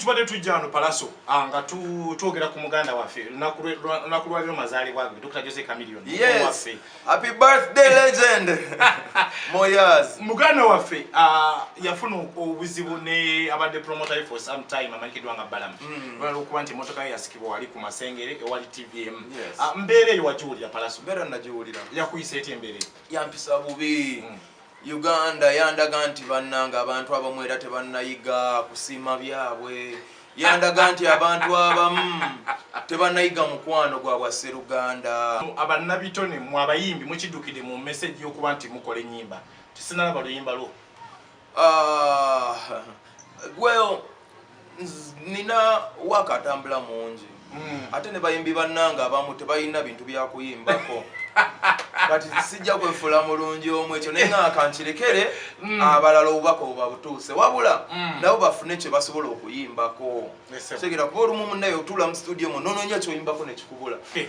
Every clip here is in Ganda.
tubadde tujja wano palaso ah, nga twogera ku muganda waffe lunaku lwaliro mazaalibwa ge dr jose camilion waffe happy birthday legend moyas muganda waffe ah, yafuna obuzibu ne abadde promoter for some time amanyikiddwa nga balamu hmm. lwala okuba nti emotoka ye yasikibwa wali ku masengere ewali tvm ah, mbeera eyo wagiwulira palaso mbeera nagiwulira yakuyisa eti embeera yampisa bubi hmm. Uganda yandaga nti bannanga abantu abamu era tebannayiga kusiima byabwe yandaga nti abantu abamu tebanayiga mukwano gwa bwasseruganda abannabitone mu abayimbi mukidukide mu meseji yokuba nti mukola enyimba tisinalaba luyimba lwo ah, well nina waka atambula mungi hmm. ate ne bayimbi bannange abamu tebalina bintu byakuyimbako kati sijja kwefula mulungi omu ekyo naye nga kankirekere hmm. abalala obubaka obabutuuse wabula hmm. nabo bafune kye basobola okuyimbako segera kuba olumu munaye otuula mu situdio mu nononya kyoyimbako nekikubula eh.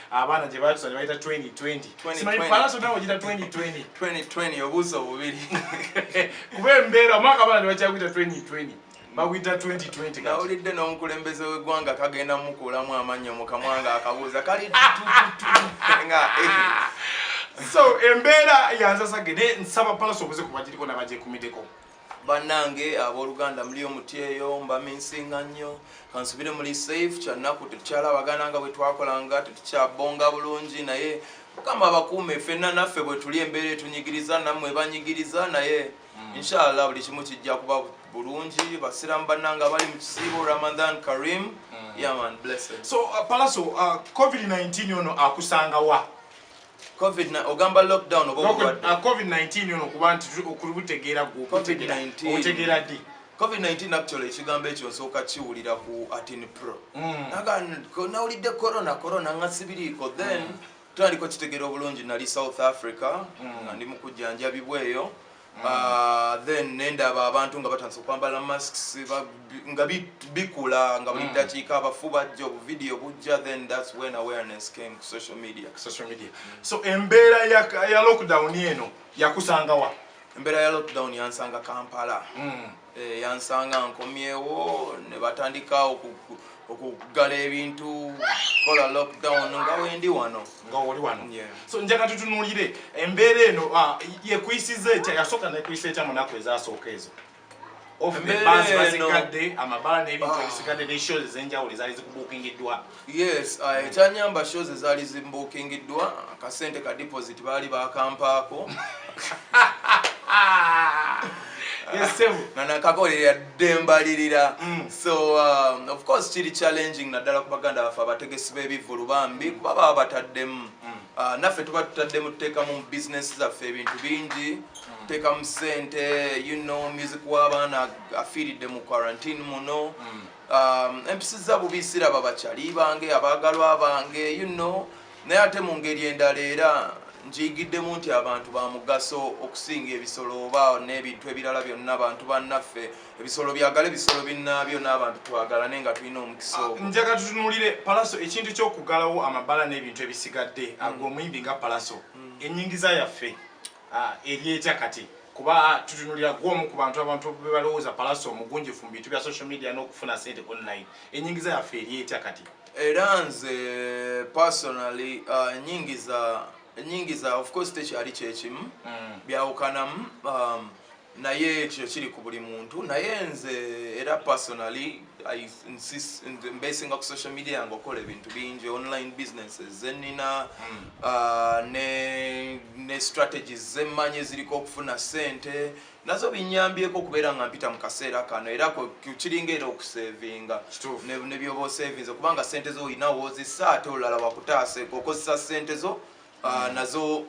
abaana gye baatusa ne bayita 2020 simanyi palaso nawe ogita 2020 2020 obuusa obubiri kuba embeera omwaka abaana ne bakyakuyita 2020 baguyita 2020 nawulidde n'omukulembeze w'eggwanga kagenda mukuulamu amannyo mu kamwa nga akabuuza kali nga so embeera yanzasage ne nsaba palaso obuze kubagiriko nabagyekumiddeko banange aboluganda muli omuti eyo mbaminsinga nnyo kansubire muli safe kyanaku tetukyalabagana nga bwetwakolanga tetukyabonga bulungi naye mukama abakuume fenna naffe bwetuli embeera etunyigiriza namwe banyigiriza naye hmm. inshallah buli kimu kijja kuba bulungi basiramu banange abali mu kisiibo ramadan karim hmm. yaman blessed so uh, palaso uh, covid-19 ono akusangawa covid na ogamba lockdown obo no, covid, uh, covid 19 ono kuba nti okubutegeera gwo covid 19 otegera di covid 19 actually ekigambo ekyo nsooka kiwulira ku atin pro mm. naga nawulidde corona corona nga sibiriiko then mm. tandiko kitegera obulungi nali south africa mm. nga ndi mukujjanjabibwa eyo Ah, then nendaba abantu nga batandise okwambala masks nga bikula nga buli hmm. dakiika abafu bajja obuvidiyo bujja then thats when awareness came to social media social media so embeera ya lockdown eno yakusangawa embeera ya lockdown yansanga kampala mm. Eh, yansanga nkomyewo ne batandika okuggala ebintu kola lockdown nga wendi wano nga oli wano so njaga tutunulire embeera eno ah, yekuyisiza etya yasooka nekuyisa etya munaku ezasooka ezo ofbazikadde amabaala n'ebintu ebisigadde ah. neshows ezenjawulo ezaali zikubuukingiddwa yes uh, ekyanyamba shows ezaali zimbukingiddwa akasente ka deposit baali bakampaako nga nakakolera ddembalirira mm. so um, of course kiri challenging naddala ku baganda baffe abategesi b'ebivulu bambi mm. kuba baba bataddemu mm. uh, naffe tuba tutaddemu tuteekamu mu bizinesi zaffe ebintu bingi tuteekamu sente you know music w'abaana afiiridde mu quarantine muno um, empisiza bubi siraba bakyali bange abaagalwa bange you know naye ate mu ngeri endala era njiyigiddemu nti abantu ba mugaso okusinga ebisolo oba n'ebintu ebirala byonna abantu bannaffe ebisolo byagala ebisolo binnaabyo n'abantu twagalane nga tulina omukisa ah, ogwo njaga tutunulire palaso ekintu ky'okugalawo amabala n'ebintu ebisigadde mm. ag'omuyimbi nga palaso mm. ennyingiza yaffe Ah, eryetya kati kuba tutunulira gwomu ku bantu abantu bebalowooza palasi omugunjifu mu bintu bya social media n'okufuna sente online enyingiza yaffe eryetya kati era nze personally ah, enyingiza enyingiza of course tekyali kyekimu mm. byawukanamu um, naye ekyo kiri ku buli muntu naye nze era personally mbesinga ku social media yange okola ebintu bingi online businesses zenina hmm. uh, ne strategies zemmanyi eziriko okufuna sente nazo binyambyeko okubeera nga mpita mu kaseera kano era kiringa era okusevinga nebyoba osevinze kubanga sente zo olinawo ozisa ate olulala wakutaase okozesa sente zo Ah, nazo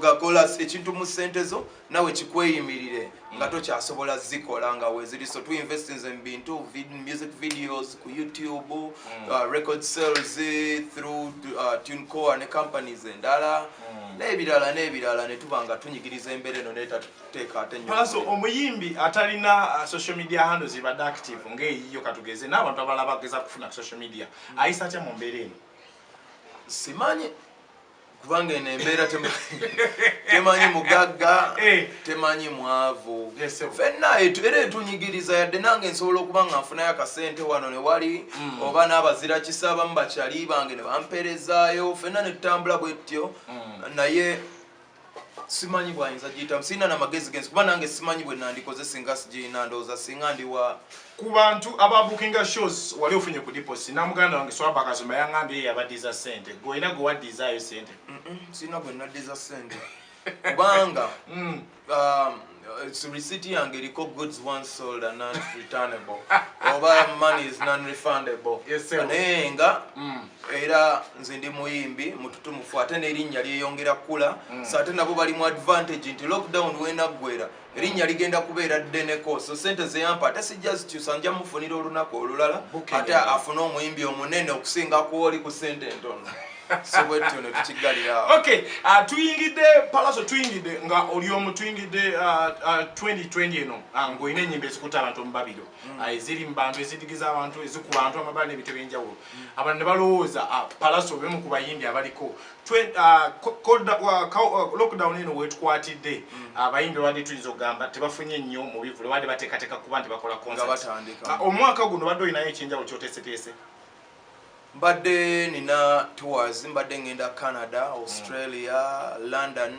gakola ekintu mu sente zo nawe kikweyimirire nga tokyasobola zikola nga weziri so tu investinze mu bintu music videos ku youtube mm. uh, record sales through uh, tunecore ne companies endala mm. n'ebirala n'ebirala ne tuba nga tunyigiriza embeera eno netateeka ate nyoso omuyimbi atalina uh, social media handle zibadde active ng'eyiyo katugeze n'abantu abalaba ageza kufuna ku social media mm. ayisa atya mu mbeera eno simanyi kubanga eno embeera temanyi mugagga eh. temanyi mwavu fenna era etunyigiriza yadde nange nsobola okuba nga nfunayo akasente wano newali mm. oba n'abazira kisa abamu bakyali bange ne bampeerezaayo fenna netutambula bwetyo mm. naye simanyi bwayinza giyitamu sirina na magezi genzi kuba nange simanyi bwe nandikoze singa sigirina ndowooza singa ndi wa ku bantu ababukinga shows wali ofunye ku diposi namuganda wange swaba kazuma yangambye yabaddiza sente gwe olina gwe waddizaayo sente sirina gwe naddiza sente kubanga mm. um, Uh, receipt yange eriko goods once sold and non returnable oba money is non refundable naye nga mm. era nze ndi muyimbi mututumufu ate nerinnya lyeyongera kukula mm. so ate nabo bali mu advantage nti lockdown wenaggwera erinnya ligenda kubeera ddeneko so sente zeyampa ate sijja zikyusa nja mufunira olunaku olulala ate afune omuyimbi omunene okusinga kuoli ku sente entono okay uh, tuyingidde palaso tuyingidde nga oli omu tuyingidde 2020 uh, uh, eno ah, ngaolina enyimba ezikuta abantu omubabiro mm. ah, eziri mubantu ezidigiza abantu ezikuba bantu amabala nebintu ebyenjawulo mm. abantu nebalowooza ah, palaso bemu ku bayimbi abaliko lockdown eno wetukwatidde mm. abayimbi wadi tuyinza okugamba tebafunye nnyo mubivule wadi batekateka kuba nti bakola omwaka guno badde olinayo ekyenjawulo kyoteseteese mbadde nina tours mbadde ngenda canada australia mm. london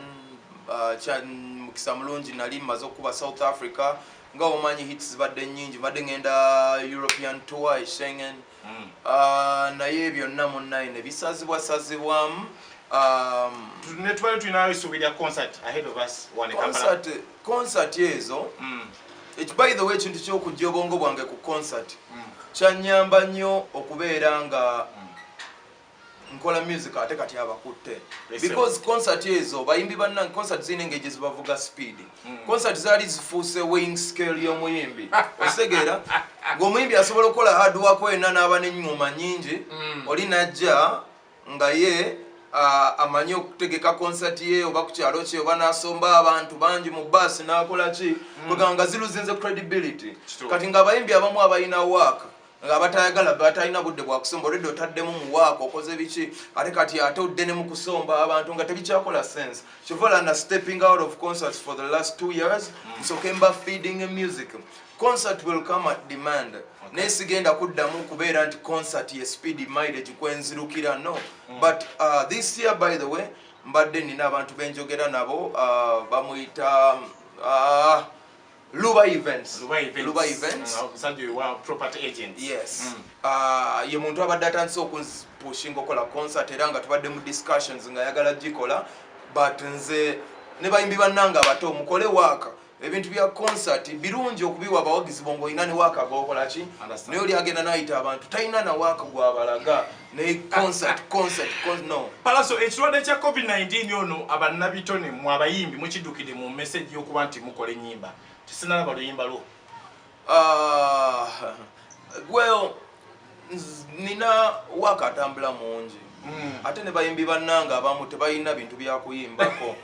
uh, mukisa mulungi nali maze okukuba south africa nga omanyi hits zibadde nyingi mbadde ngenda european tour e schengen mm. uh, naye byonna munnaye nebisazibwasazibwamu um, netubadde tulinayo esuubi lya concert ahead of us one concert concert ezo mm. by the way ekintu kyokujja obwongo bwange ku concert mm. kyanyamba nnyo okubeera nga mm. nkola music ate kati abakutte because concert ezo bayimbi banna concert zirina engeri gyezibavuga speed mm. concert zaali zifuuse wing scale y'omuyimbi ositegeera ng'omuyimbi asobola okukola hard wako ena n'aba n'enyuma nyingi oli najja nga ye amanyi okutegeka concert ye oba kukyalo kye oba nasomba abantu bangi mu bus nakola ki mm. kwegamba nga ziluzinze credibility kati nga abayimbi abamu abalina waaka nga batayagala batalina budde bwakusomba olwedde otaddemu muwaako okoze biki ate kati ate odde ne mukusomba abantu nga tebikyakola sense kyovala na stepping out of concerts for the last two years mm. nsoke mba feeding music concert will come at demand okay. naye sigenda kuddamu kubeera nti concert ye speed mileage kwenzirukira no mm. but uh, this year by the way mbadde nina abantu benjogera nabo uh, bamuyita uh, luba events luba events, luba events. Uh, property agent yes mm. uh, ye muntu abadde atandise okunpushinga okola concert era nga tubadde mu discussions nga ayagala gikola but nze ne bayimbi bannanga abato mukole waaka ebintu bya concert birungi okubiwa abawagizi bo ng'olina ne waaka gwokola ki naye oli agenda nayita abantu talina na waaka gwabalaga ne concert concert no palaso ekirwadde kya covid-19 ono abannabitone mu abayimbi mukiddukidde mu message y'okuba nti mukola ennyimba tisinalaba luyimba lwo Ah, well nina waka atambula mungi mm. ate ne bayimbi bannange abamu tebalina bintu byakuyimbako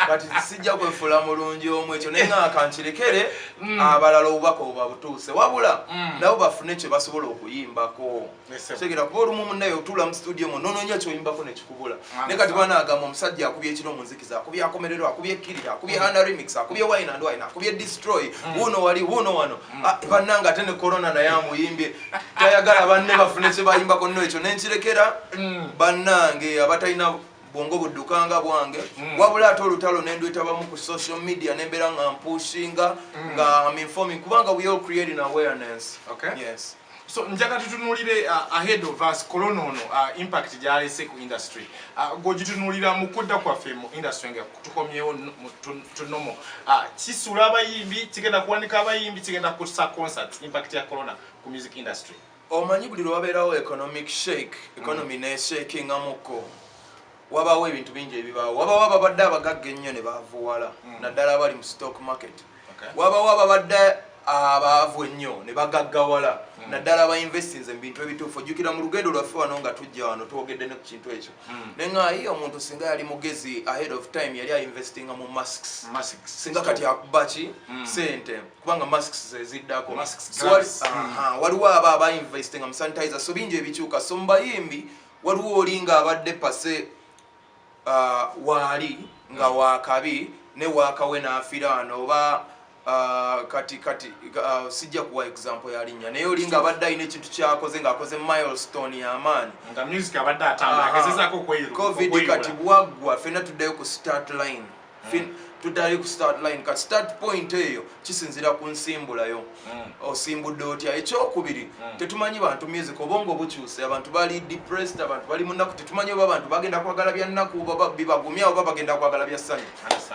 kati sijja kwefula mulungi omu ekyo naye nga kankirekere mm. abalala obubaka obabutuuse wabula mm. nabo bafune kyebasobola okuyimbako segera kuba olumu munaye otula mu studio mu nononya kyoyimbako nekikubula ne kati bana agamba omusajja akubye ekiro mu nzikiza akubye akomerero akubye kirira akubye mm. under remix akubye wine and wine akubye destroy mm. wuno wali wuno wano mm. ah, bananga ate ne corona naye amuyimbye tayagala banne bafune kye bayimbako nno ekyo nenkirekera banange abatalina bwongo buddukanga bwange mm. wabula ate olutalo nendwetabamu ku social media nembeera nga mpushinga mm. nga am informing kubanga we all creating awareness okay. yes So njaga tutunulire uh, ahead of us corona ono uh, impact gyalese ku industry uh, gwogitunulira mu kudda kwaffe mu industry nga tukomyewo tunomo uh, kisula abayimbi kigenda kuwanika abayimbi kigenda kusa concert impact ya corona ku music industry omanyi buli lwabeerawo economic shake economy mm. neshakingamuko wabaawo ebintu bingi ebibaawo wabaawo ababadde abagagga ennyo ne baavuwala hmm. naddala abali mu stock market wabaawo ababadde abaavu ennyo ne bagaggawala hmm. naddala abainvestinze mu bintu ebituufu ojjukira mu lugendo lwaffe wano nga tujja wano twogedde ne ku kintu ekyo hmm. naye nga ye omuntu singa yali mugezi ahead of time yali ainvestinga mu masks singa kati akuba ki sente kubanga masks zeziddako waliwo abo abainvestinga mu sanitizer so bingi ebikyuka so mubayimbi waliwo oli ng'abadde pase uh, waali nga hmm. wakabi ne wakawe n'afira wano oba uh, kati kati uh, sijja kuwa example ya linnya naye oli ng'abadde alina ekintu kyakoze ng'akoze milestone y'amaanyi covid kati bwaggwa fenna tuddayo ku start line mm. tudayo ku start line ka start point eyo kisinzira ku nsimbulayo mm. osimbudde otya ekyokubiri mm. tetumanyi bantu music obongo obukyuse abantu bali depressed abantu bali munaku tetumanyi oba abantu bagenda kwagala bya nnaku oba bibagumya oba bagenda kwagala bya ssanyu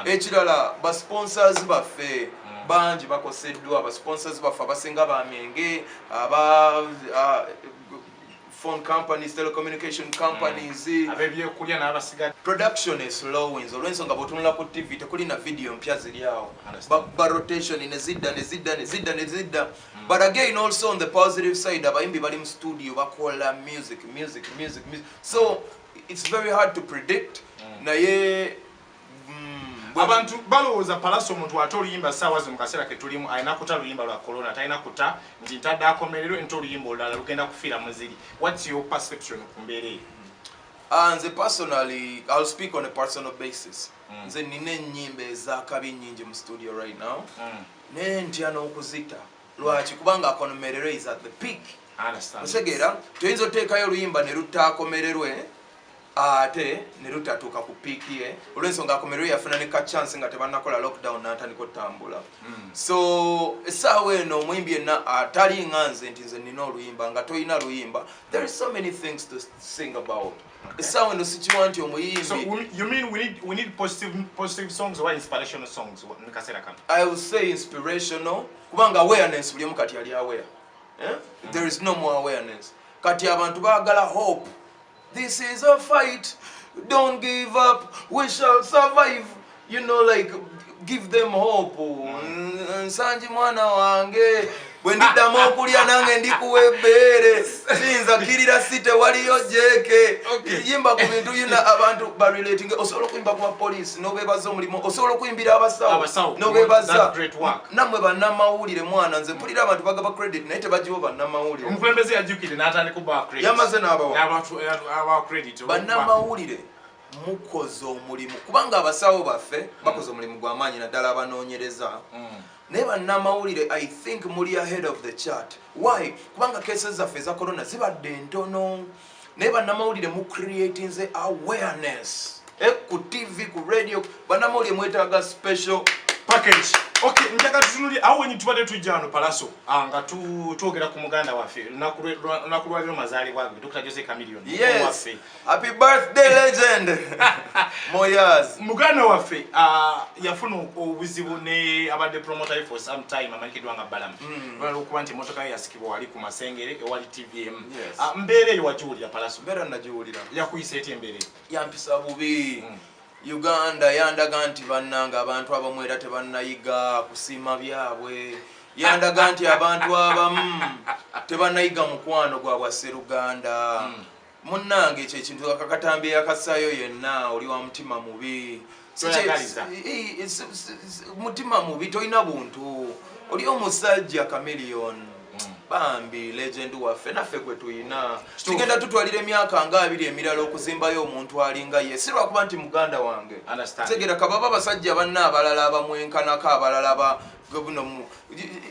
ekirala ba sponsors baffe mm. bangi bakoseddwa ba sponsors baffe abasinga bamyenge aba uh, phone companies telecommunication companies mm. abebyekulya n'abasigadde production eslowings olw'ensonga bw'otunula ku tv tekuli na vidiyo mpya ziri awo ba rotation ne zidda ne zidda ne zidda ne zidda mm. but again also on the positive side abayimbi bali mu studio bakola music music music music so it's very hard to predict mm. naye abantu balowooza palasi omuntu ate oluyimba saawa zi mukaseera ketulimu alina kuta luyimba lwa corona talina kuta nti ntadde akomerero ente oluyimba olulala lugenda kufiira muziri whats your perception ku mbeera eyo ah, nze personally ill speak on a personal basis mm. nze nina enyimba ezakabi nyingi mu studio right now mm. naye ntya n'okuzita lwaki kubanga akomerero is at the peak otegeera toyinza oteekayo oluyimba ne lutaakomererwe ate ne lutatuuka ku piiki ye olw'ensonga akomerwe yafuna ne ka chance nga tebannakola lockdown n'atandika otambula hmm. so essaawa eno omuyimbi yenna atali nga nze nti nze nina oluyimba nga tolina luyimba there is so many things to sing about essaawa eno sikiwa nti omuyimbiinspirational kubanga awareness bulimu kati yali aware eh? hmm. there is no more awareness kati abantu baagala hope This is a fight. Don't give up. We shall survive. You know, like, give them hope. Mm. Nsanji mwana wange. bwe ndiddamu okulya nange ndikuwa ebbeere siyinza kirira si tewaliyo jeeke yimba ku bintu yina abantu barelating osobola okuyimba ku bapoliisi nobebaza omulimu osobola okuyimbira abasawo nobebaza namwe banamawulire mwana nze mpulira abantu bagaba credit naye tebagiwo banamawulire omukulembeze yajukire natandika oba credit yamaze nabawa credit banamawulire mukoze omulimu kubanga abasawo baffe bakoze omulimu gwamaanyi naddala abanonyereza mm. naye banamawulire i think muli ahead of the chart why kubanga kese zaffe eza corona zibadde ntono naye banamawulire mu creatinze awareness eh, ku tv ku radio banamawulire mwetaaga special package okay njaka tutunuli awo wenyi tubadde tujja wano palaso ah, nga twogera ku muganda waffe lunaku lwaliro mazaalibwa ge dr jose camilion yes happy birthday legend moyas muganda waffe ah, yafuna obuzibu ne abadde promoter for some time amanyikiddwa nga balamu mm. lwalwokuba nti emotoka ye yasikibwa wali ku masengere ewali tvm Ah, mbeera eyo wagiwulira palaso mbeera nagiwulira yakuyisa eti embeera eyo yampisa bubi mm. uganda yandaga nti bannanga abantu abamu era tebannayiga kusiima byabwe yandaga nti abantu abamu tebannayiga mukwano gwa bwasseruganda mm. munnange ekyo ekintu akakatambi eyakasaayo yenna oli wa mutima mubi mutima mubi tolina buntu oli omusajja camelion hmm. bambi legend waffe naffe gwe tuyina tugenda tutwalira emyaka nga abiri emirala okuzimbayo omuntu alinga ye si lwakuba nti muganda wange tegera kababa abasajja banna abalala abamwenkanako abalala buno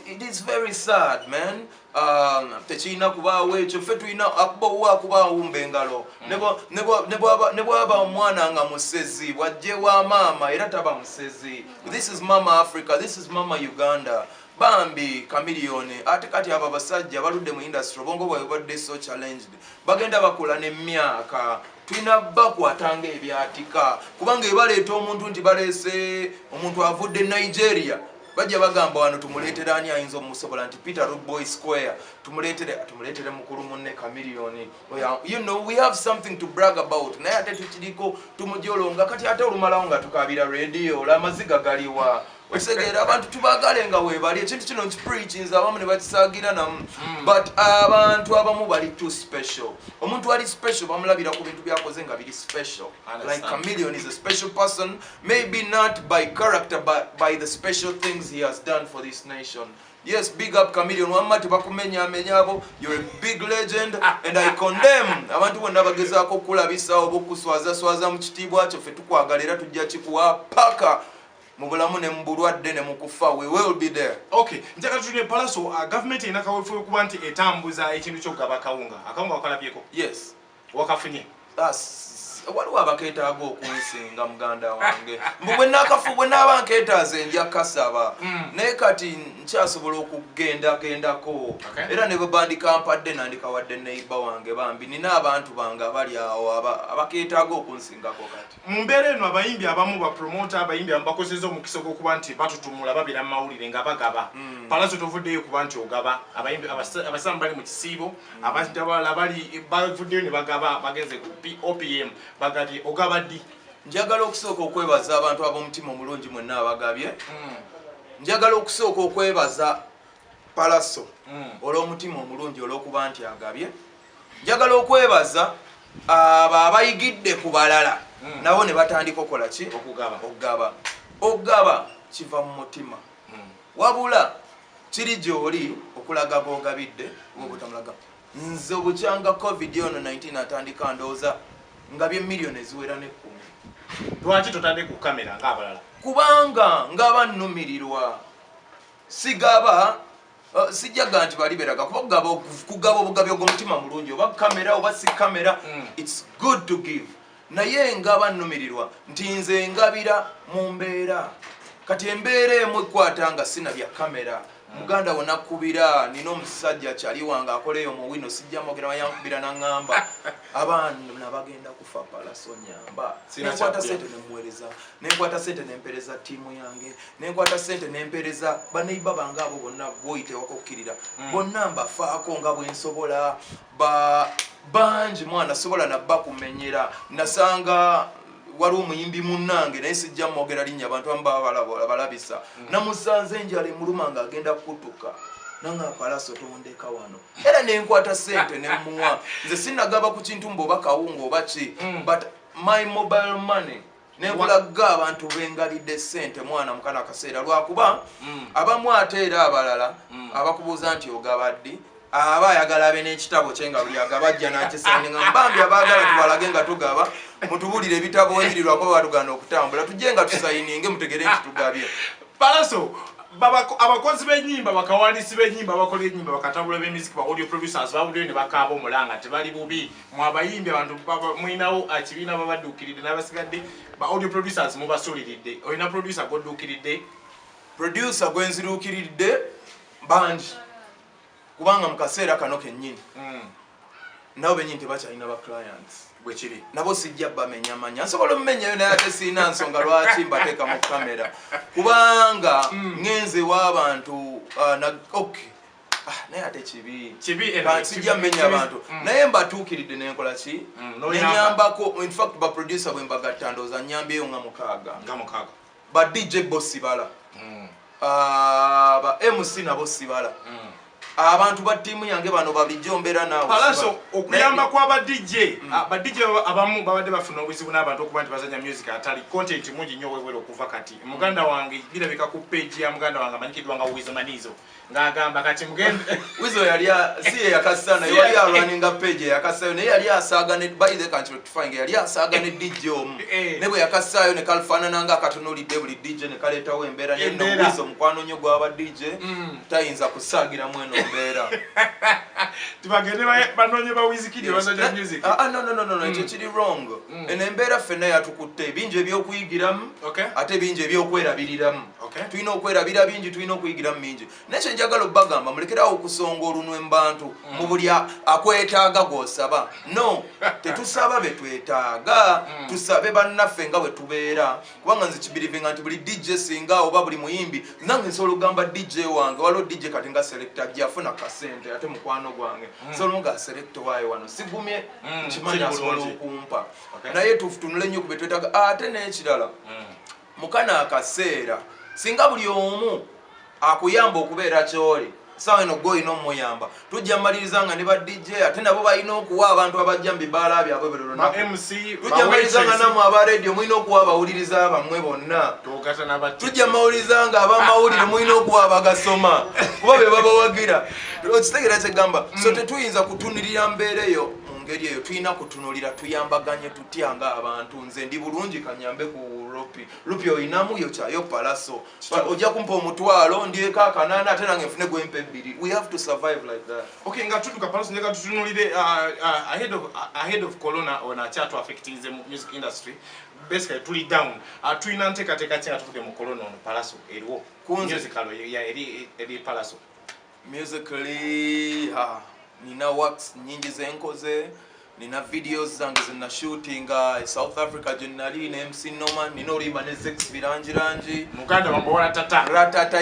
it is very sad man Ah, tekirina kubaawo ekyo ffe tulina akubawo akubaawo mbengalo ne bwaba omwana nga musezi bwajje wa maama era taba musezi this is mama africa this is mama uganda bambi kamiliyoni ate kati abo abasajja baludde mu industry obwongo bwawe badde so challenged bagenda bakola nemyaka tulina bakwatanga ebyatika kubanga ebaleeta omuntu nti baleese omuntu avudde nigeria bajja bagamba wano tumuleetere ani ayinza omusobola nti peter roboy square tumuleetere tumuleetere mukulu munne kamiliyoni you know we have something to brag about naye ate tukiriko tumujolonga kati ate olumalawo nga tukabira radio ola amaziga galiwa okisegeera abantu tubagale nga webali ekintu kino nkipreachinza abamu ne bakisagira namu hmm. but abantu abamu bali too special omuntu ali special bamulabira ku bintu byakoze nga biri special like chameleon is a special person Maybe not by character but by the special things he has done for this nation. Yes, big up Chameleon wamma tebakumenya amenya abo. You're a big legend and I condemn abantu bonna bagezaako okulabisa oba okuswaza swaza mu kitiibwa kyo ffe tukwagala era tujja kikuwa paka mu bulamu ne mu bulwadde ne mu kufa we will be there okay njagala tuli ne palaso uh, gavumenti erina kaweefube okuba nti etambuza ekintu ky'okugaba akawunga akawunga wakalabyeko yes wakafunye waliwo abaketaaga okunsinga muganda wange mbu bwenakafu bwenaaba nketaaza enja kasaba hmm. naye kati nkyasobola okugendagendako era ne bwebandikaampadde nandikawadde neiba wange bambi nina abantu bange abali awo abaketaaga okunsingako kati Mu mbeera eno abayimbi abamu bapromota abayimbi abamu bakozeza omukisa ogw'okuba nti batutumula babeera mu mawulire nga bagaba mm. palaso tovuddeyo kuba nti ogaba abayimbi abasamu bali mu kisiibo mm. abantu abalala bali bavuddeyo ne bagaba bagenze ku opm bagabye ogaba ddi njagala okusooka okwebaza abantu ab'omutima omulungi mwenna abagabye mm. njagala okusooka okwebaza palaso olw'omutima omulungi olw'okuba nti agabye njagala okwebaza abo abayigidde ku balala hmm. nabo ne batandika okola ki okugaba okugaba kiva mu mutima hmm. wabula kiri gyoli okulaga bogabidde obutamulaga nze obukyanga covid ono 19 atandika ndowooza nga byemiliyoni eziwera nekkumi lwaki totande ku kamera ngaabalala kubanga ngaba nnumirirwa sigaba Uh, sijjaga nti bali beraga kuba kugaba obugabi ogwo omutima mulungi oba kamera oba si kamera mm. its good to give naye engaba nnumirirwa nti nze engabira mu mbeera kati embeera emu ekwata nga sina bya kamera mm. muganda wona kubira nina omusajja kyali wange akola eyo muwino sijja mogera wayankubira naŋamba abaana bagenda kufa palasonyamba nekwata sente nemuwereza nenkwata sente nempereza tiimu yange nenkwata sente nempereza baneiba bange abo bonna bwoyitewako okukirira mm. bonna mbafaako nga bwensobola bangi mwana sobola nabba kumenyera nasanga waliwo omuyimbi munange naye sijja mwogera linnya abantu amu babalabisa mm. namusanze enjala emuluma nga agenda kutuka nanga palaso tondeka wano era nenkwata sente nemuwa nze sinagaba ku kintu mba oba kawunga oba ki mm. but my mobile money nekulagga abantu bengalidde sente mwana mukano akaseera lwakuba mm. abamu ate era abalala mm. abakubuuza nti ogabaddi aba ayagala abe n'ekitabo kye nga buli agaba ajja nakisani nga mbambi abaagala tubalage nga tugaba mutubulire ebitabo ebiri lwakuba batugana okutambula tujje nga tusayininge mutegere nti tugabye palaso abakozi benyimba bakawandiisi benyimba abakola enyimba bakatambula bemiziki ba audio producers bawulire ne bakaaba omulanga tebali bubi mwe abayimbi abantu mulinawo ekibiina babadduukiridde n'abasigadde ba audio producers mubasuuliridde olina producer gwodduukiridde producer gwenziruukiridde bangi kubanga mu kaseera kano kennyini hmm. nabo benyini tebakyalina ba clients bwekiri nabo sijja bamenya manya nsobola omumenyayo naye ate sirina nsonga lwaki mbateeka mu kamera kubanga hmm. ngenze w'abantu uh, ok Ah, naye ate kibi kibi eh, sijja mmenya abantu mm. naye mbatuukiridde nenkola ki mm, nenyambako infact baproducer bwe mbagatta ndooza nyambyeyo nga mukaaga nga mukaaga ba dj bo sibala mm. ah, ba mc nabo sibala abantu ba tiimu yange bano balijjo mbeera nawealaso okuyamba kwa ba dj ah, ba dj abamu babadde bafuna obuzibu n'abantu okuba nti bazanya music atali content mungi nnyo wewera okuva kati muganda wange birabika ku page ya muganda wange amanyikiddwa nga wizmanizo ng'agamba kati mugende wizo yali si ye yakassa naye yali alwaninga page yakassayo naye yali asaaga ne by the country to find yali asaaga ne DJ omu eh, eh. ne bwe yakassaayo ne kalfaanana nga akatunulidde buli DJ ne kaleetawo embeera ne no wizo mukwano nnyo gwaba DJ mm. tayinza kusaagira mu eno mbeera tibagende banoonye ba wizikidi basajja music ah, ah no no no no ekyo mm. kiri wrong mm. eno embeera ffenna yatukutte bingi ebyokuyigiramu ate bingi ebyokwerabiriramu okay. tulina okwerabira bingi tulina okuyigiramu mingi naye kyenjagala obagamba mulekerawo okusonga olunwe mubantu mm. mu buli akwetaaga gwosaba no tetusaba betwetaaga mm. tusabe bannaffe nga bwetubeera kubanga nze kibirivinga nti buli dj singa oba buli muyimbi nange nsobola okugamba dj wange waliwo dj kati nga selekta jafuna kasente ate mukwano gwange mm. solo nga selekta waye wano sigumye nkimanyi asobola okumpa naye tutunule nnyo kubetwetaaga ate nekirala mukana akaseera singa buli omu akuyamba okubeera kyoli sawa eno gwe olina omuyamba tujja maliriza nga ne ba dj ate nabo balina okuwa abantu abajja mu bibaala byabwe buli lunakutujja maliriza nga namwe aba radio mulina okuwa abawuliriza bamwe bonna tujja mawuliriza nga abamawulire mulina okuwa abagasoma kuba be babawagira okitegera kyegamba so mm. tetuyinza kutunirira mbeera eyo mu ngeri eyo tulina kutunulira tuyambaganye tyanga abantu nze ndi bulungi kanyambe ku rupi rupi oyinamu yo kyayo palaso ojja kumpa omutwalo ndyeko akanana ate nange nfune gwempa ebbiri we have to survive like that okay nga tuduka palaso njega tutunulire uh, uh, ahead of uh, ahead of corona on a chat affecting the music industry basically tuli down atulina nteekateeka ki nga tuvude mu corona ono palaso eriwo kunzikalo eri palaso musically ha nina works nyingi zenkoze nina videos zange zina shootinga e south africa gyenali ne mc noma nina olimba ne zex birangirangi muganda wamuwola tata ratata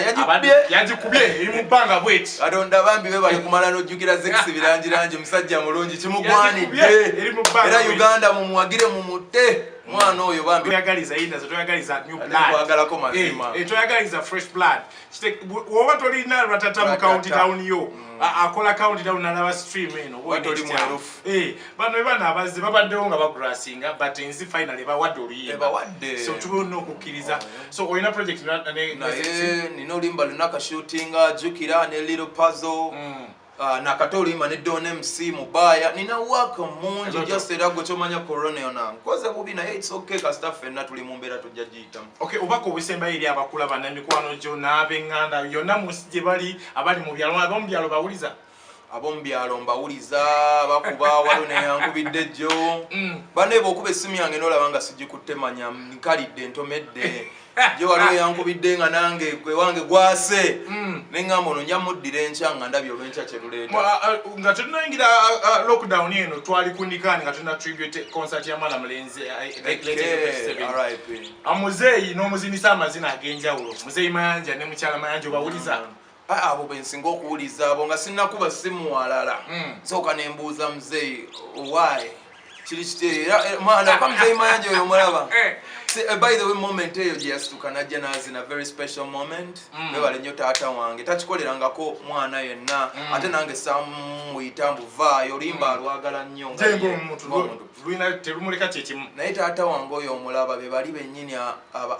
yagikubye eri mu bbanga bweti katonda bambi be bali kumala nojjukira zex birangirangi musajja mulungi kimugwanidde era uganda mumuwagire mumute mwana oyo bambi toyagaliza yindaze toyagaliza new blood toyagaliza eh, eh, fresh blood woba tolina ratata mu county town yo mm. akola county town nalaba stream eno eh, bano ebana abazze babaddewo nga bagrasinga but nzi final ebawadde oluyimbso tuba olina okukkiriza so olina project nina olimba lunaka shootinga jukira ne little puzzle mm. Ah, nakata oluyimba ne don mc mubaya nina waka mungi just era gwe kyomanya corona yona nkoze bubi naye its ok kasita fenna tuli mu mbeera tujja giyitamu ok obaka obusembayo eri abakula bana emikwano gyo n'abenganda yonna munsi gye bali abali mu byalo ab'omu byalo bawuliza ab'omu byalo mbawuliza bakuba waliwo neyankubidde jjo mm. banaye bwokuba essimu yange nolaba nga sigikutte manya nkalidde ntomedde je eh, waliwo ah. yankubidde nga nange gwewange gwase hmm. neŋamba ono nja muddira enkya nga ndabye olwenkya kyeruleeta ah, ah, nga tetunayingira lockdown eno twali kundikaani nga tulina tribute concert ya mwana mulenzi amuzeeyi n'omuzinisa amazina ag'enjawulo muzeeyi mayanja ne mukyala mayanja obawuliza hmm. abo bensinga okuwuliza abo nga sinakuba simuwalala hmm. soka nembuuza muzeyi owaye kiri kiteeramwanakamuzeyimayanja eh, oyo omulaba eh. eh, by the way moment eyo gyeyasituka najja nazina very special moment hmm. webale nnyo taata wange takikolerangako mwana yenna hmm. ate nange samuyita mbuvaayo olimba alwagala nnyo naye taata wange oyo omulaba bebali bennyini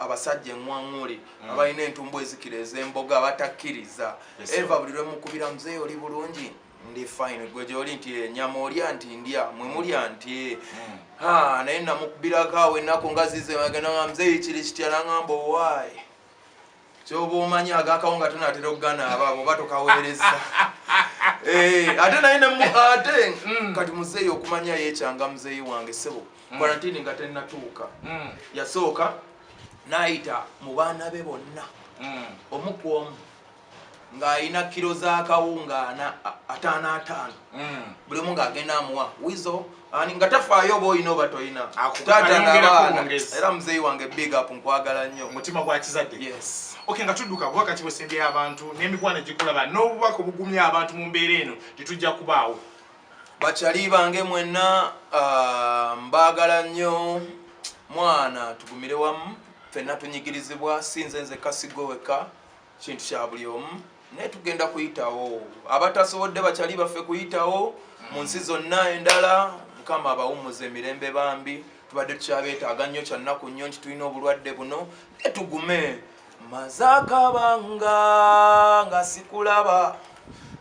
abasajja eŋwaŋuli mm. abalina entumbu ezikira ezemboga abatakkiriza eva buli lwemukubira muzeeyi oli bulungi ndi fine gwe gyoli nti enyama eh, olya nti ndya mwe mulya nti eh. mm. ha naye namukubirako awo ennaku nga zize agenda nga muzeeyi kiri kitya nangamba owaayi kyoba omanya agakawo nga tonatera okugana abaabo oba tokaweereza Eh, ate naye ate mm. kati muzeeyi okumanya yekyanga muzeeyi wange sebo mm. kwarantini nga tenatuuka mm. yasooka n'ayita mu baana be bonna hmm. omu ku omu ng'alina kiro z'akawunga ana ataano ataano hmm. buli omu ng'agenda amuwa wizo ani nga tafaayo oba olina oba tolina taata n'abaana era muzeeyi wange big up nkwagala nnyo omutima gwa kizadde yes okay nga tudduka kuba kati bwesembyeyo abantu n'emikwano egikulaba n'obubaka obugumya abantu mu mbeera eno tetujja kubaawo Bakyali bange mwenna ah, mbaagala nnyo mwana tugumire wamu fenna tunyigirizibwa si nze nze kasigo wekka kintu kya buli omu naye tugenda kuyitawo abatasobodde bakyali baffe kuyitawo mu nsi zonna endala mukama abawummuza emirembe bambi tubadde tukyabeetaaga nnyo kyannaku nnyo nti tulina obulwadde buno naye tugume maze akabanga nga sikulaba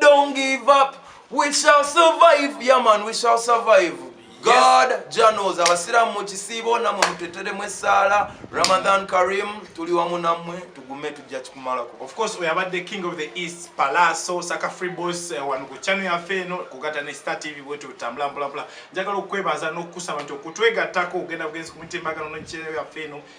Don't give up. We shall survive. Yeah man, we shall survive. God yes. Janos abasiramu mu kisiibo namwe muteteremu essaala Ramadan Karim tuli wamu namwe tugume tujja kikumalako. Of course we abadde king of the east Palaso Saka Free Boss uh, wano ku channel yaffe eno kugata ne Star TV wetu tutambula mpola mpola. Njagala okwebaza n'okusaba nti okutwegattako ogenda bugenzi ku mitimbagano n'ekiseera yaffe eno